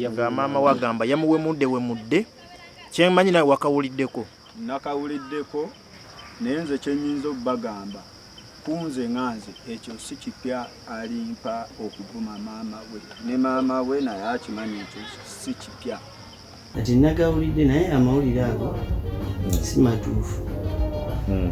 nga maama we agamba yamuwemudde wemudde kyemanyi nawe wakawuliddeko nakawuliddeko naye nze kyenyinza okubagamba kunze nga nze ekyo si kipya alimpa okuvuma maama we ne maama we naye akimanyi ekyo si kipya kati nagawulidde naye amawulire ago si matuufu hmm.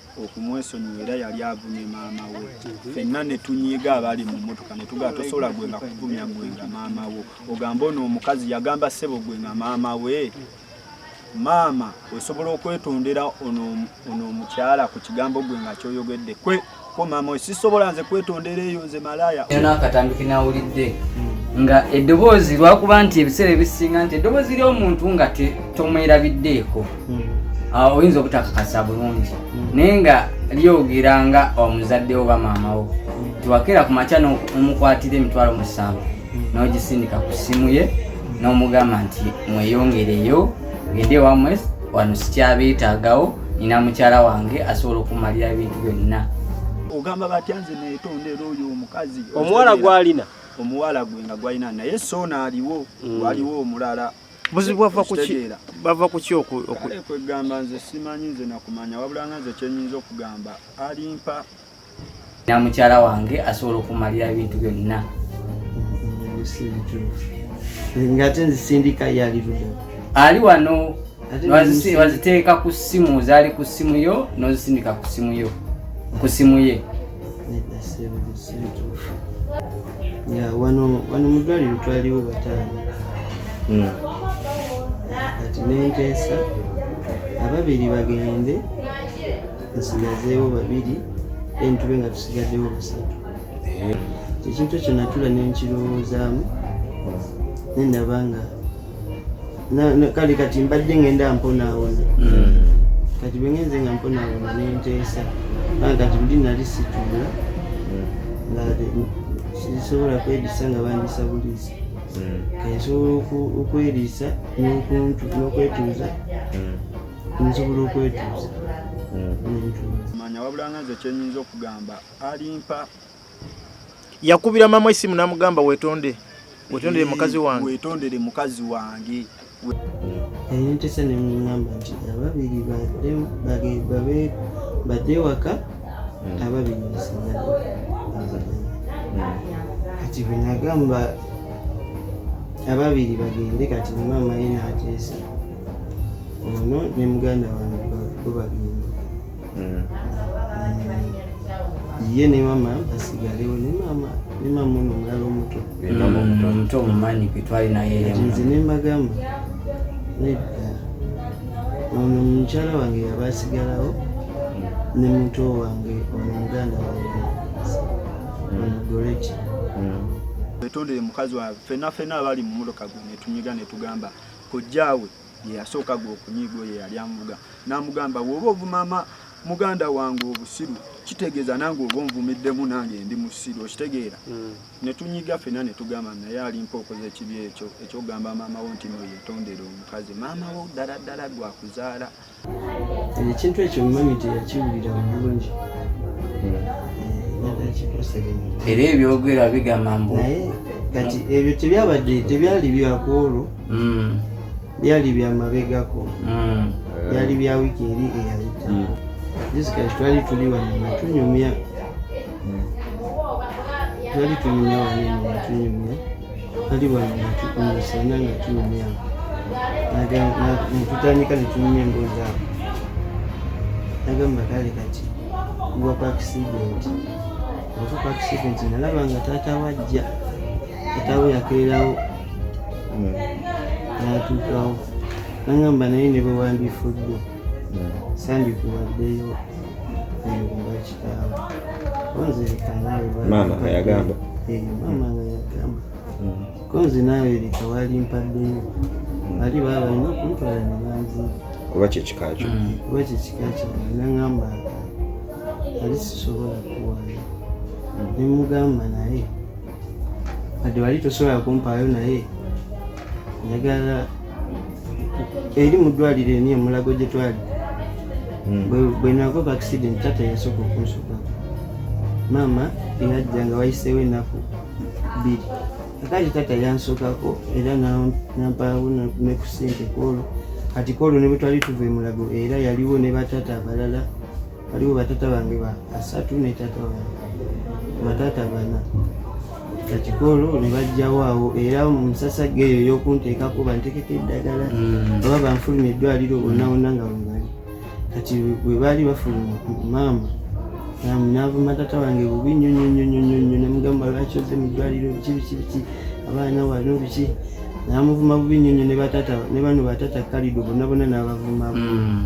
okumwesonyiwa era yali avumye maama we fenna ne tunyiiga abaali mu mmotoka ne tugamba tosobola gwe nga kuvumya gwe nga maama wo ogamba ono omukazi yagamba ssebo gwe nga maama we maama osobola okwetondera ono omukyala ku kigambo gwe nga kyoyogedde kwe ko maama we sisobola nze kwetondera eyo nze malaaya yona akatambi kenawulidde nga eddoboozi lwakuba nti ebiseera ebisinga nti eddoboozi ly'omuntu nga tomwerabiddeeko hmm. awo oyinza obutakakasa bulungi hmm. naye nga lyogera nga omuzadde oba maama wo hmm. tiwakeera ku makya nomukwatira emitwalo musanvu nogisindika ku ssimu ye nomugamba nti mweyongereyo gende wamwe wano sikyabeetagawo nina mukyala wange asobola okumalira ebintu byonna ogamba batya nze netondera oyo omukazi omuwala gwalina omuwala gwe nga gwalina naye soona aliwo mm. waliwo omulala buzibu bava kuki bava kuki okwegamba nze simanyi nze nakumanya wabula nga nze kyenyinza okugamba alimpa na mukyala wange asobola okumalira ebintu byonna ngate nzisindika yaliruda ali wano waziteeka ku ssimu zaali ku ssimu yo nozisindika ku ssimu yo ku ssimu ye ya wano wano mu ddwaliro twaliwo bataano hmm. kati nenteesa ababiri bagende nsigazeewo babiri then tube nga tusigaddewo busatu eh. ekintu ekyo natula nenkirowoozamu nendaba nga kale kati mbadde ngenda mponaawona hmm. kati bwengenze nga mponaawona nenteesa aa kati buli nali situla hmm. sisobola kwediisa nga bandisa buliisa hmm. kansobola okweriisa n'okwetuuza nsobola okwetuuza manya wabula nga nze kyenyinza okugamba alimpa yakubira mama esimu namugamba wetonde wetondere mukazi wange wetondere mukazi wange yantesa nemugamba nti ababiri badde ewaka hmm. ababiri basigale kati bwenagamba ababiri bagende kati mama ye nateesa ono ne muganda wange bo bagende mm. ye ne mama basigalewo ne mama ne mama ono omulala omuto omuto omumanyi kwetwali nayenze ne mbagamba nedda ono mukyala wange yaba asigalawo mm. ne muto wange ono muganda wange mm. onogoleki wetondere mukazi wawe fena fena abali mumuloka gwe netunyiga netugamba kojjaawe gye yasooka gwe okunyiiga oyo eyali amuvuga n'amugamba bw'oba ovumama muganda wange obusiru kitegeeza nange oba onvumiddemu nange ndi musiru okitegeera hmm. ne tunyiga fena ne tugamba naye alimpa okoza ekibi ekyo ekyogamba maama wo nti noyetondera omukazi maama wo ddala ddala gwakuzaala ekintu ekyo mumanyi nti yakiwulira bulungi hmm. era ebyogera bigamba mbu kati ebyo tebyabadde tebyali byakwolwo mm. byali bya mabegako mm. byali bya wiki eri eyayita mm. jessica twali tuli wano nga tunyumya mm. twali tunyumya wano nga tunyumya twali wano nga tukumusana nga tunyumya netutandika netunyumya emboozi awo nagamba kale kati kuwa ku accident okuka accident nalaba nga taata wajja Katawe yakeerawo hmm. n'atuukawo nangamba naye ne bwe wandifuddwa hmm. sandikuwaddeyo eyoba kitaawo onzerekanaawe maama ayagamba eh, maama nga yagamba konzi naawe leka wali mpaddeyo bali baaba alina okuntwala ne banzira kuba kyekika kyo kuba kyekika kyo nangamba ali sisobola kuwaayo nemugamba naye wadde wali tosobola kumpaayo naye njagala eri mu ddwaliro eni omulago gye twali hmm. bwe nakoka accident tata yasooka okunsuka maama eyajja nga wayiseewo ennaku bbiri akati tata yansukako era nampaawo ne ku sente kwolwo kati kwolwo ne bwe twali tuva emulago era yaliwo ne batata abalala waliwo batata bange ba asatu ne tata wange batata bana kakikolo ne bajjawo awo era mu musasa geeyo eyokunteekako bantekeko eddagala mm. oba banfuluma eddwaliro onawona nga webali kati bwe baali bafuluma maama naavuma tata wange bubi nyo nyo nyo nyo nyo namugamba lwaki oze mu ddwaliro biki biki biki abaana wano biki namuvuma bubi nyo nyo ne bano batata kalido bonabona nabavuma mm.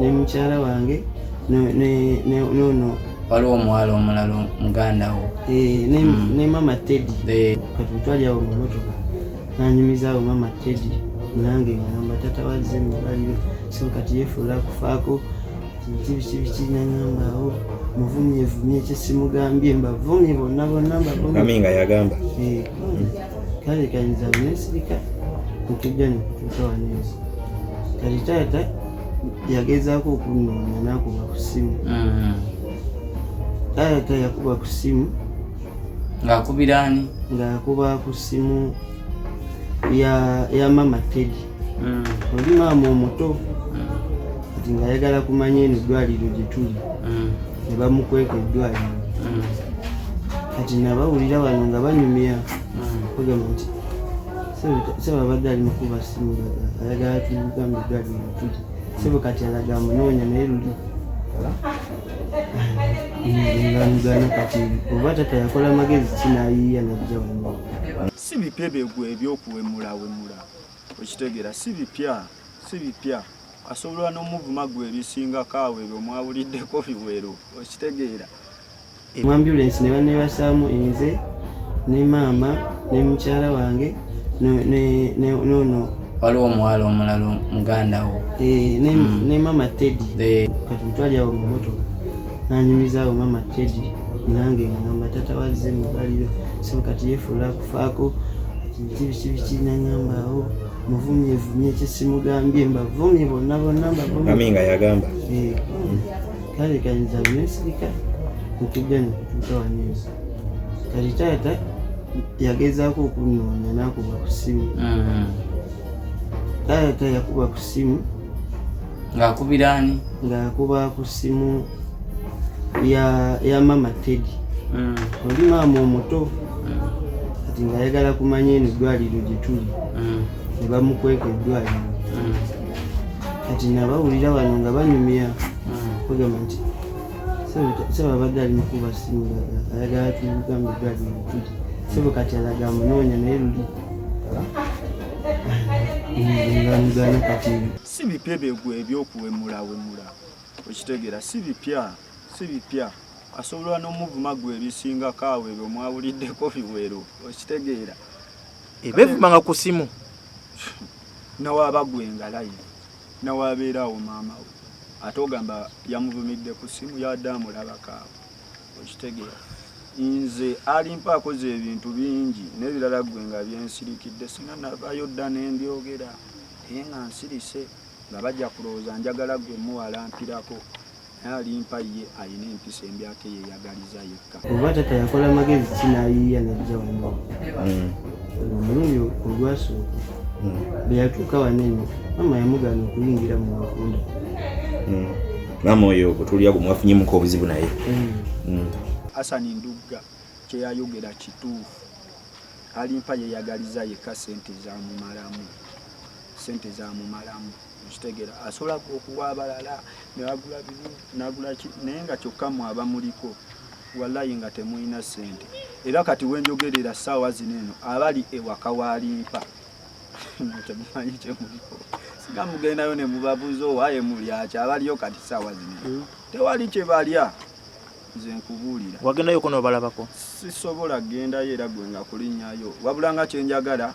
ne mukyala wange nono waliwo omuwala omulala muganda wo eh, ne mm. mama tedi eh. kati twali awo mumotoka nanyumizaawo mama tedi nange ngamba tata wazze mubaliro so kati yefuula kufaako kibikibiki nangamba awo muvumye vumye kyesimugambye mbavumye bonna bonna mbavumye nga yagamba eh, kale kayinza nesirika nokujja nekutuuka wanensi kati taata yagezaako okunnoonya n'akuba ku ssimu mm-hmm. taata yakuba ku ssimu ng'akubira ani ng'akuba ku ssimu ya mama tedi mm. oli maama omuto mm. kati ng'ayagala kumanya eno eddwaliro gye tuli mm. ne bamukweka eddwaliro kati nabawulira bano nga banyumya bagamba nti sebo abadde ali mukuba simu ayagala tugambe gadi mutuli sebo kati alaga munoonya naye luli ngamugana kati oba tata yakola magezi kinayiiya najja wano si bipya byegwe ebyokuwemulawemula okitegera si bipya si bipya asobola n'omuvuma gwe ebisingako awo ebyo mwawuliddeko biwero okitegeera mu ambulensi ne banebasaamu enze ne maama ne mukyala wange nono waliwo omuwala omulala muganda wo eh, ne mm. maama tedi eh. kati mutwali awo mu motoka nanyumizaawo maama tedi nange ngamba tata wazze mubaliro so kati yefuula kufaako biki biki biki nangamba awo muvumye vumye kyesimugambye mbavumye bonna bonna mbavumye nga yagamba eh. kale kayinza nesirika nkigana ntowanyiza kati taata yagezaako okunoonya nakuba ku simu mm-hmm. taata yakuba ku simu ngaakubiraani ngaakuba ku simu ya ya mama tedi mm. oli maama omuto mm. kati ngaayagala kumanya eno eddwaliro gyetuli mm. ne bamukweka eddwaliro kati nabawulira bano nga banyumya bagamba nti sebo abadde ali mukuba simu ayagala tugambe eddwaliro mutuli sebo kati alaga munoonya naye luli ngamugana kati si bipya byegwe ebyokuwemulawemula okitegeera si bipya si bipya asobola n'omuvuma gwe ebisingako awo ebyo mwawuliddeko biwero okitegeera ebevuma nga ku simu nawaba gwe nga live nawabeera awo maama we ate ogamba yamuvumidde ku simu yadde amulabako awo okitegeera nze alimpa akoze ebintu bingi nebirala gwe nga byensirikidde singa navayo dda nembyogera naye nga nsirise nga bajja kulowooza njagala gwe muwalampirako naye alimpa ye alina empisa embi ate yeyagaliza yekka oba tata yakola magezi ki nayiiya najja wano hmm. omulundi olwasooka hmm. bweyatuuka wanene mama yamugana okuyingira mu bakunda hmm. mama oyo bwetulya gwe mwafunyemuko obuzibu naye asani ndugga kyeyayogera kituufu alimpa yeyagaliza yekka sente zamumalamu sente zamumalamu kitegera asobola okuwa abalala nagula bibi nagula ki naye nga kyokka mwe abamuliko wallayi nga temulina ssente era kati wenjogerera ssaawa zino eno abali ewaka walimpa temumanyi kyemuliko singa mugendayo ne mubabuuza owaye mulyaki abaliyo kati ssaawa zino hmm. tewali kye balya nze nkubuulira wagendayo konobalabako sisobola gendayo era gwe nga kulinnyayo wabula nga kyenjagala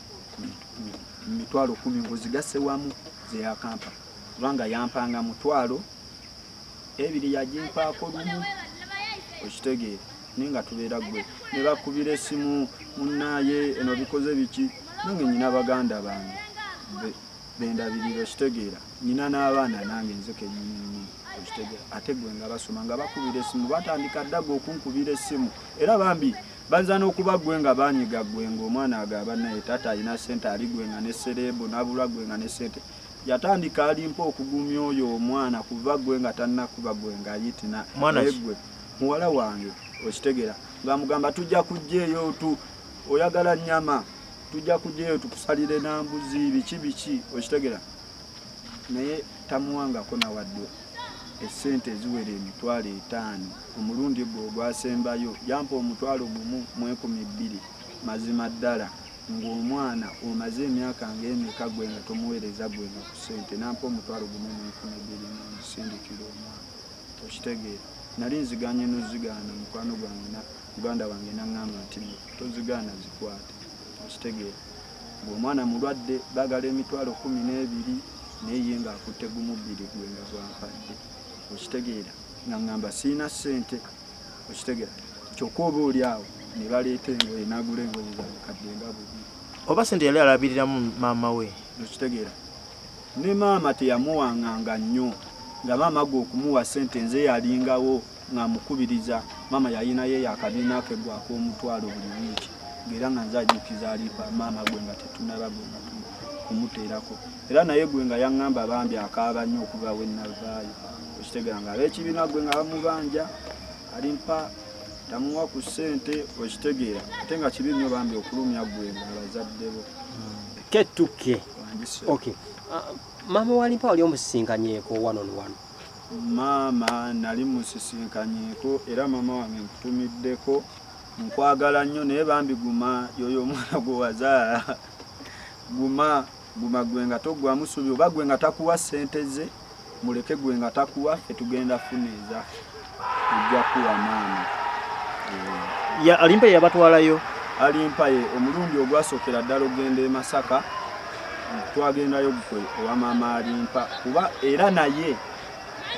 mitwalo kumi ngozigasse wamu zeyakampa kubanga yampanga mutwalo ebiri yagimpaako lumu okitegeera naye nga tubeera gwe ne bakubira essimu munaye eno bikoze biki nange nyina baganda bange bendabirira okitegeera nyina n'abaana nange nzeke nyinini okitegeera ate gwe nga basoma nga bakubira essimu batandika ddaga okunkubira essimu era bambi Banza n'okuba ggwe nga banyiga ggwe ng'omwana agaba naye taata alina ssente ali ggwe nga ne sereebu n'abulwa ggwe nga ne ssente yatandika alimpa okugumya oyo omwana kuva ggwe nga tannakuba ggwe nga yitina naye ggwe muwala wange okitegera ng'amugamba tujja kujja eyo tu oyagala nnyama tujja kujja eyo tukusalire n'ambuzi biki biki okitegera naye tamuwangako nawadde essente eziwera emitwalo etaano Ku mulundi gwe ogwasembayo yampa omutwalo gumu mu ekumi bbiri. Mazima ddala, nga omwana, omaze emyaka nga emeka gwe nga tomuwereza gwe nga ku sente? Nampa omutwalo gumu mu ekumi bbiri mu nzisindikira omwana. Okitegeera? Nali nziganye nozigaana, mukwano gwange na, muganda wange nangamba nti, No, tozigaana, zikwate. Okitegeera? Nga omwana mulwadde, bagala emitwalo kkumi n'ebiri, naye ye nga akutte gumu bbiri gwe nga gwampadde. Okitegeera? nga ngamba sirina ssente okitegera kyokka oba oli awo ne baleeta engoye nagula engoye zakadde nga bubi oba sente yali alabiriramu maama we okitegeera ne maama teyamuwanganga nnyo nga maama gwe okumuwa sente nze yalingawo ng'amukubiriza maama yalinayo yakabiina ke gwaka omutwalo buli wiiki ngaera nga nze ajjukiza alipa maama gwe nga tetunaba gwe nga kumuteerako era naye gwe nga yaŋŋamba bambi akaaba nnyo okuva we nnavaayo okitegera nga ab'ekibiina gwe nga bamubanja alimpa tamuwa ku ssente okitegeera ate nga kibi nnyo bambi okulumya gwe nga abazadde bo ketuke okay. uh, maama walimpa wali omusisinkanyeko wanonwano maama nali musisinkanyeko era maama wange nkutumiddeko nkwagala nnyo naye bambi guma yoyo omwana gwe wazaala guma Guma gwe nga toggwamu subi oba gwe nga takuwa sente ze muleke gwe nga takuwa fe tugenda funa eza ojja kuwa maama ya alimpaye yabatwalayo alimpaye omulundi ogwasokera ddala ogenda e masaka twagendayo gukwe owa maama alimpa kuba era naye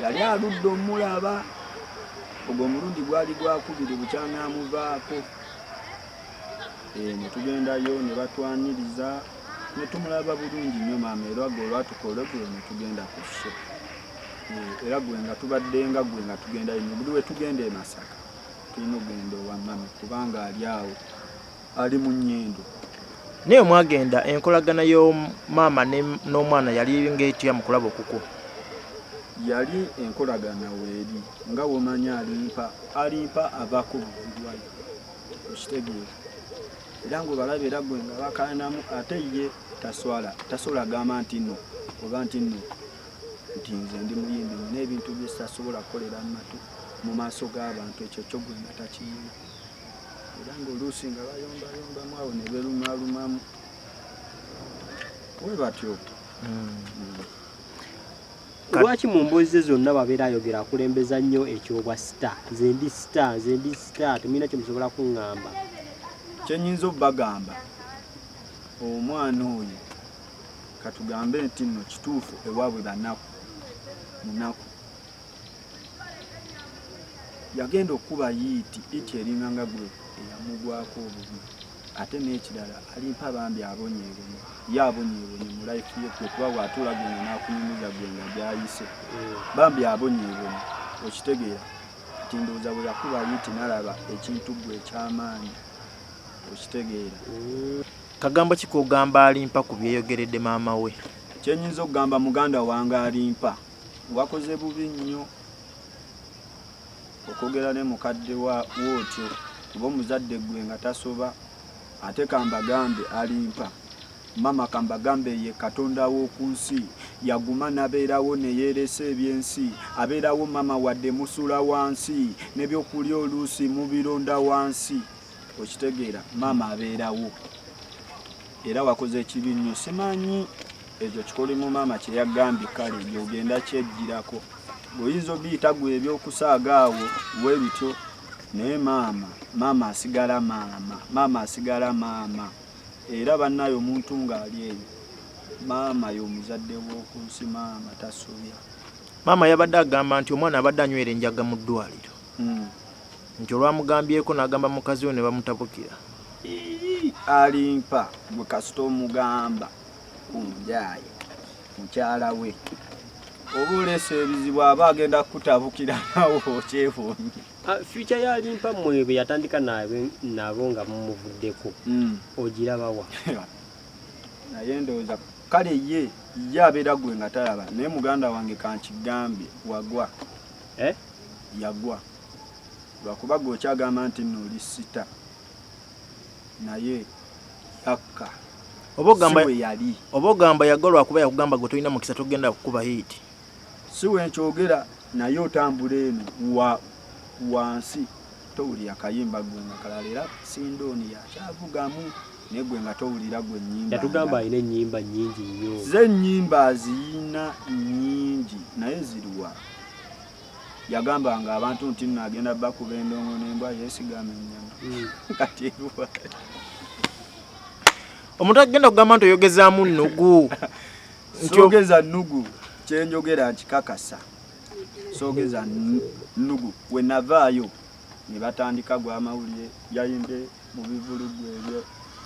yali aludde omulaba ogwo omulundi gwali gwakubiri bukyanamuvaako eh, netugendayo nebatwaniriza ne tumulaba bulungi nnyo maama era gwe olwatuka olwegulo ne tugenda ku sso eh, era gwe nga tubadde nga gwe nga tugenda ino buli we tugenda e Masaka tulina okugenda owa mami kubanga ali awo ali mu nnyendo naye mwagenda enkolagana y'omaama n'omwana yali ngaetya mu kulaba okuku yali enkolagana weeri nga womanya alimpa alimpa ava ku buvudwayo okitegeera era ng'obalaba era gwe nga bakaanamu ate ye taswala tasobola agamba nti no oba nti no nti nze ndi muyimbi nina ebintu byesasobola kukolera mumatu mu maaso g'abantu ekyo kyo gwe nga takiyina era ng'oluusi nga bayombayombamu awo ne berumalumamu we batyo mm. mm. Lwaki mu mboozi ze zonna babeera ayogera akulembeza nnyo ekyobwa sita nze ndi sita nze ndi sita temulina kye musobola kuŋŋamba kye nnyinza obagamba omwana oyo katugambe nti nno kituufu ewaabwe banaku munaku yagenda okukuba yiiti iti eringa nga gwe eyamugwako obubi ate n'ekirala alimpa bambi abonyeebonye ye abonyeebonye mu life ye kwe kuba bw'atuula gwena n'akunyumiza gwena gy'ayise bambi abonyeebonye okitegeera nti ndowooza bwe yakuba yiti nalaba ekintu gwe eky'amaanyi okitegeera kagambo ki k'ogamba alimpa ku byeyogeredde maama we kye nnyinza okugamba muganda wange alimpa wakoze bubi nnyo okwogera ne mukadde wa wootyo kuba omuzadde ggwe nga tasoba ate kambagambe alimpa mama kambagambe ye katonda w'oku nsi yaguma nabeerawo neyeeresa ebyensi abeerawo mama wadde musula wansi nebyokulya oluusi mubironda wansi okitegeera mama abeerawo era wakoze ekibi nnyo simanyi Ekyo kikolimu maama kye yagambye kale gy'ogenda kyejjirako. Oyinza obiyita gwe ebyokusaaga awo we bityo naye maama maama asigala maama maama asigala maama era bannayo omuntu ng'ali eyo maama y'omuzadde w'oku nsi maama tasobya. Maama yabadde agamba nti omwana abadde anywera enjaga mu ddwaliro hmm. nti olwamugambyeko n'agamba mukazi we ne bamutabukira. Alimpa gwe kasita omugamba. omujaye mukyala we oba oleesa ebizibu aba agenda kukutabukira nawe okyefunye ah, fyuca yalimpa mwe bwe yatandika nabo nga mumuvuddeko hmm. ogirabawa naye ndowooza kale ye ye abeera gwe nga talaba naye muganda wange kankigambye wagwa eh? yagwa lwakuba gwe okyagamba nti nno oli sita naye yakka oba ogamba yali oba ogamba yagalwa kuba yakugamba gwe tolina mukisa togenda kukuba hit si wenkyogera naye otambula eno wa wansi towulira kayimba gwe nga kalala era sindooni yakyavugamu naye gwe nga towulira gwe nyimba yatugamba alina enyimba nyingi nnyo ze nyimba aziyina nyingi naye ziriwa yagambanga abantu nti nno agenda bakuba endongo nembwa yesigama enyama hmm. kati eruwa omuntu agenda kugamba nti oyogezamu nugu ntiogeza nugu kyenjogera nkikakasa sogeza nugu wenavaayo ne batandika gwa amawulire yayimbye mu bivulugu ebyo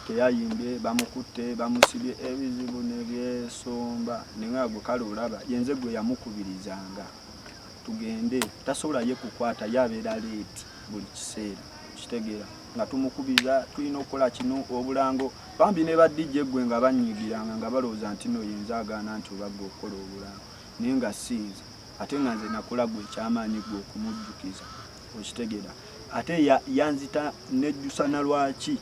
teyayimbye bamukutte bamusibye ebizibu ne byesomba ne nga gwe kale olaba yenze gwe yamukubirizanga tugende tasobola ye kukwata ye abeera leeti buli kiseera kitegeera nga tumukubiriza tulina okukola kino obulango bambi ne badijja eggwe nga banyiigiranga nga balowooza nti no yenze agaana nti obagga okukola obulango naye nga siinze ate nga nze nakola gwe ekyamaanyi gwe okumujjukiza okitegera ate yanzita nejjusa na lwaki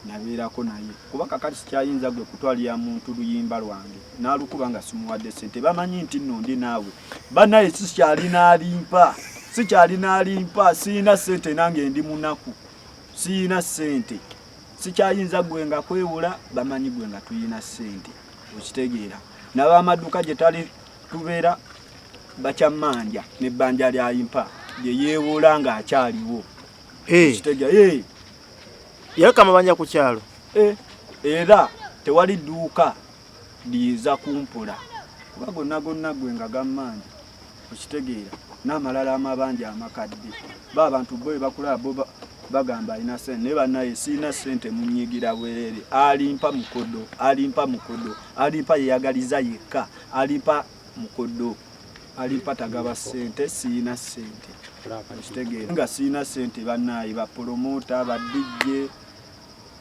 nabeerako naye kuba kakati sikyayinza gwe kutwalira muntu luyimba lwange nalukuba nga simuwadde sente bamanyi nti nno ndi naawe banaye sikyali nalimpa sikyali nalimpa siyina sente nange ndi munaku siyina sente sikyayinza gwe nga kwewula bamanyi gwe nga tuyina sente okitegeera nabamaduka gyetali tubeera bakyammanja nebbanja lyayimpa gyeyeewoola nga akyaliwo kitega yaleka amabanja ku kyalo era tewali dduuka liyinza kumpula kuba gonna gonna gwe nga gammanja okitegeera n'amalala amabanja amakadde ba abantu bo ebakulaba bo bagamba alina sente naye banaye sirina sente munyigira bwerere alimpa mukodo alimpa mukodo alimpa yeyagaliza yekka alimpa mukodo alimpa tagaba sente siyina sente okitegeera nga siyina sente banaye bapolomota badijje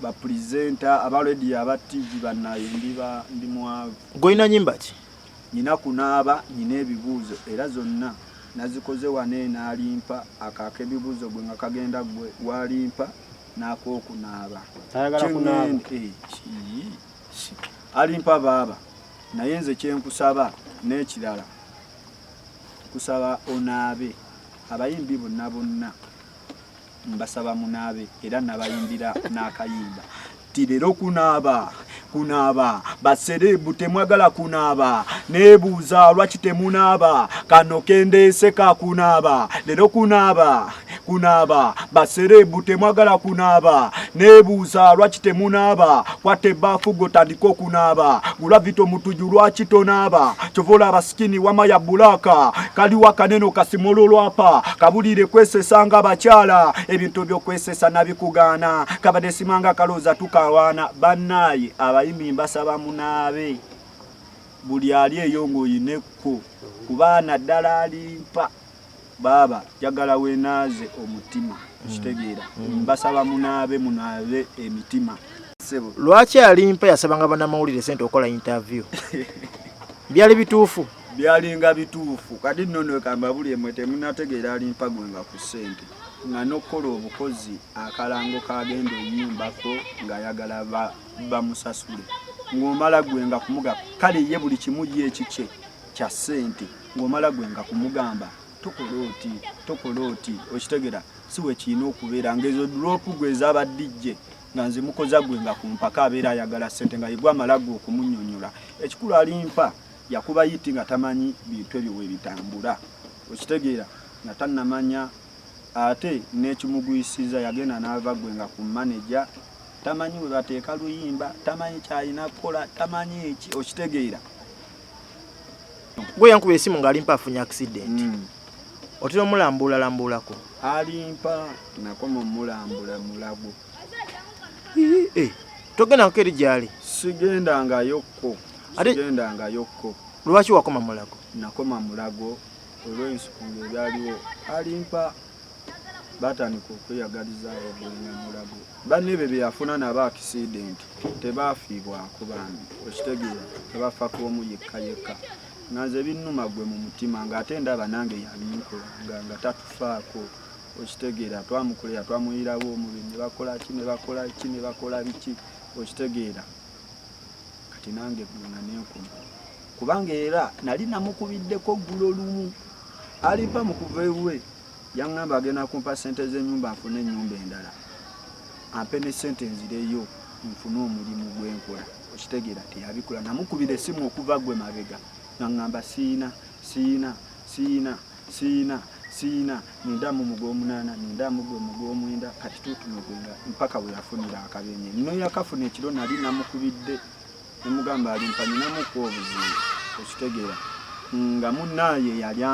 bapurezenta abalediyo aba tv banaye ndiba ndi mwavu golina nyimba ki nyina kunaaba nyina ebibuuzo era zonna nazikoze wane nalimpa akaaka ebibuuzo gwe nga kagenda gwe walimpa nakokunaaba eh, alimpa baaba naye nze kyenkusaba n'ekirala kusaba onaabe abayimbi bonna bonna mbasaba munaabe era nabayimbira n'akayimba ti leero kunaaba kunaaba basereebu temwagala kunaaba neebuuza lwaki temunaaba kano kendeese ka kunaaba leero kunaaba kunaaba basereebu temwagala kunaaba nebuuza lwaki temunaaba kwata ebbaafu gwe otandika okunaaba gulavito mutuju lwaki tonaaba kyova olaba sikini wama ya bulaaka kaliwo akanene okasimolo lwapa kabulire kwesesa nga abakyala ebintu byokwesesa nabikugaana kabadde simanga akalooza tukawaana bannaaye abayimi mbasaba munaabe buli ali eyo ng'oyinekko kubaana ddala alimpa Baaba njagala wenaaze omutima okitegeera mm. mbasaba munaabe munaabe emitima. Lwaki alimpa yasabanga banamawulire sente okola interview byali bituufu byalinga bituufu kati nno nekamba buli emwe temunategeera alimpa gwe nga ku sente nga nokukola obukozi akalango kagenda oyimbako ngaayagala bamusasule ng'omala gwe nga kumuga kale ye buli kimu ye ekikye kya ssente ng'omala gwe nga kumugamba tokola oti tokola oti okitegera si we kirina okubeera ng'ezo dulopu gwe ezaba dj nga nze mukoza gwe nga ku mpaka abeera ayagala ssente nga yegwe amala gwe okumunyonyola ekikulu alimpa yakuba yiti nga tamanyi bintu ebyo bwe bitambula okitegeera nga tannamanya ate n'ekimugwisiza yagenda n'ava gwe nga ku maneja tamanyi bwe bateeka luyimba tamanyi kyalina kukola tamanyi ki okitegeera gwe yankuba esimu nga alimpa afunye accident mm. otera omulambula lambulako alimpa nakoma omulambula mulago eh, togenda kukeri gyali sigenda nga yokko sigenda nga yokko lwaki wakoma mulago nakoma mulago olwensukulu ebyaliwo alimpa baatandika okweyagaliza abagwenya mulago banne ebyo bye yafuna nabo akisidenti tebaafiibwako bambi okitegeera tebafa ku omu yekka yekka nga nze binnuma gwe mu mutima ng'ate ndaba nange yabinkolanga nga tatufaako okitegeera twamukolera twamuyirawo omubiri ne bakola ki ne bakola ki ne bakola biki okitegeera kati nange guna nenkuma kubanga era nali namukubiddeko ggulo lumu aliva mu kuva ewuwe yaŋŋamba agenda kumpa ssente z'ennyumba nfune ennyumba endala ampe ne ssente nzireyo nfune omulimu gwenkola okitegeera teyabikola namukubira essimu okuva gwe mabega naŋŋamba siina siina siina Siyina siyina nenda mu mugwomunana nenda mu gwe mugwomwenda kati tutume gwenga mpaka we yafunira akabenye no yakafuna ekiro nali namukubidde nemugamba alimpa ninamu ku obuzibu okitegera nga munaye yali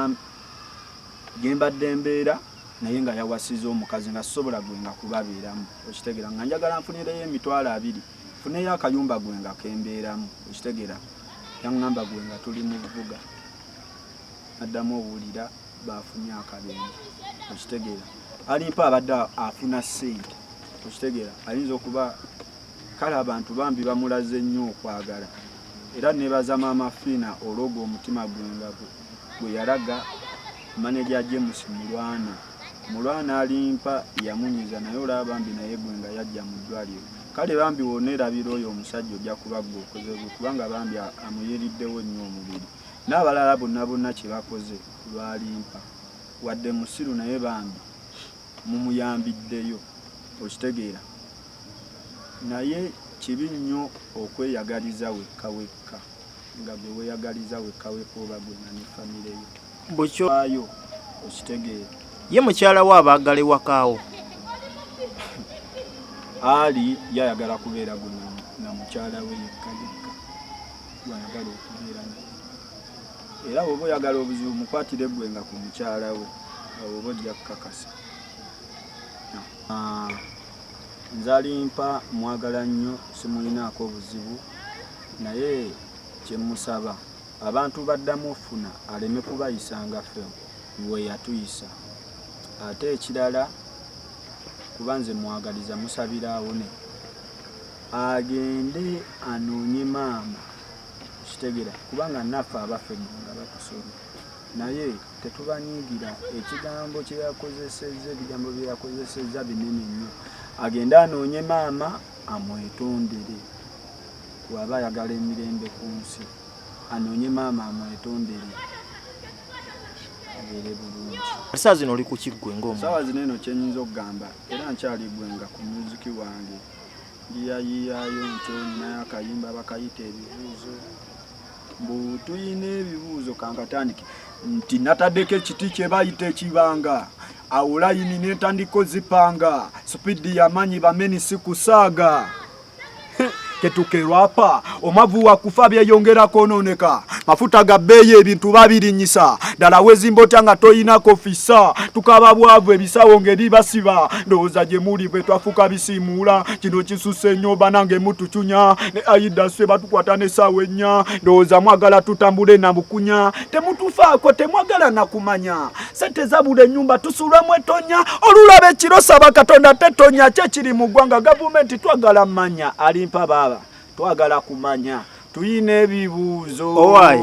gembadde mbeera naye nga yawasiza omukazi nga sisobola gwenga kubabeeramu okitegera nga njagala nfunireyo emitwalo abiri funeyo akayumba gwenga kembeeramu okitegera yangamba gwenga tuli mu bubuga naddamu owulira baafunye akabenje okitegeera alimpa abadde afuna ssente okitegeera ayinza okuba kale abantu bambi bamulaze nnyo okwagala era nebaza maama fiina olwoga omutima gwenga gwe yalaga maneja james mulwana mulwana alimpa yamunyiza naye olaba bambi naye gwenga yajja mu ddwaliro kale bambi wonerabira oyo omusajja ojja kubagga okoze gwe kubanga bambi amuyiriddewo nnyo omubiri Nabalala bonna bonna kyebakoze lwalimpa wadde musiru naye bambi mumuyambiddeyo okitegeera naye kibi nnyo okweyagaliza wekka wekka nga gwe weyagaliza wekka wekka oba gwe nga ne famire yo bukyoayo okitegeera ye mukyala wo abaagala ewakaawo ali yayagala kubeera gwe na mukyala we yekka yekka gw'ayagala okubeera naye era bw'oba oyagala obuzibu mukwatire ggwe nga ku mukyala we awo oba ojja kukakasa ah, nzalimpa mwagala nnyo simulinaako obuzibu naye kyemusaba abantu baddamu ofuna aleme kubayisanga fe we yatuyisa ate ekirala kuba nze mwagaliza musabira awone agende anoonye maama kitegera kubanga naffe abaffe nga batusoma naye tetubanyiigira ekigambo kyeyakozesezza ebigambo byeyakozesezza binene nnyo agende anoonye maama amwetondere waba ayagala emirembe ku nsi anoonye maama amwetondere abeere bulungi saawa zino oli ku kiggwe ngaomu saawa zino eno kyenyinza okugamba era nkyali gwenga ku muziki wange Yiyayiyayo nti olina akayimba bakayita ebibuuzo mbu tulina ebibuuzo kankatandike nti natadeko ekiti kyebayita ekibanga awo layini netandika ozipanga supidi yamanyi bameni sikusaaga ketukerwapa Omwavu wa kufa byeyongera kwonooneka, mafuta ga bbeeyi, ebintu babirinyisa ddala. Weezimba otya nga toyinako fissa? Tukaba bwavu, ebisawo ng'ebibasiba. Ndowooza gye muli bwe twafuuka bisiimuula. Kino kisusse nnyo banange, mutucunya ne Aida Swe batukwata n'essaawa ennya. Ndowooza mwagala tutambule na bukunya. Temutufaako, temwagala na kumanya. Ssente zabula ennyumba tusuula mu ettonya. Olulaba ekiro saba Katonda tetonya. Kye kiri mu ggwanga gavumenti twagala manya. Alimpa baaba. Twagala kumanya. Tuyina ebibuzo. Owaye.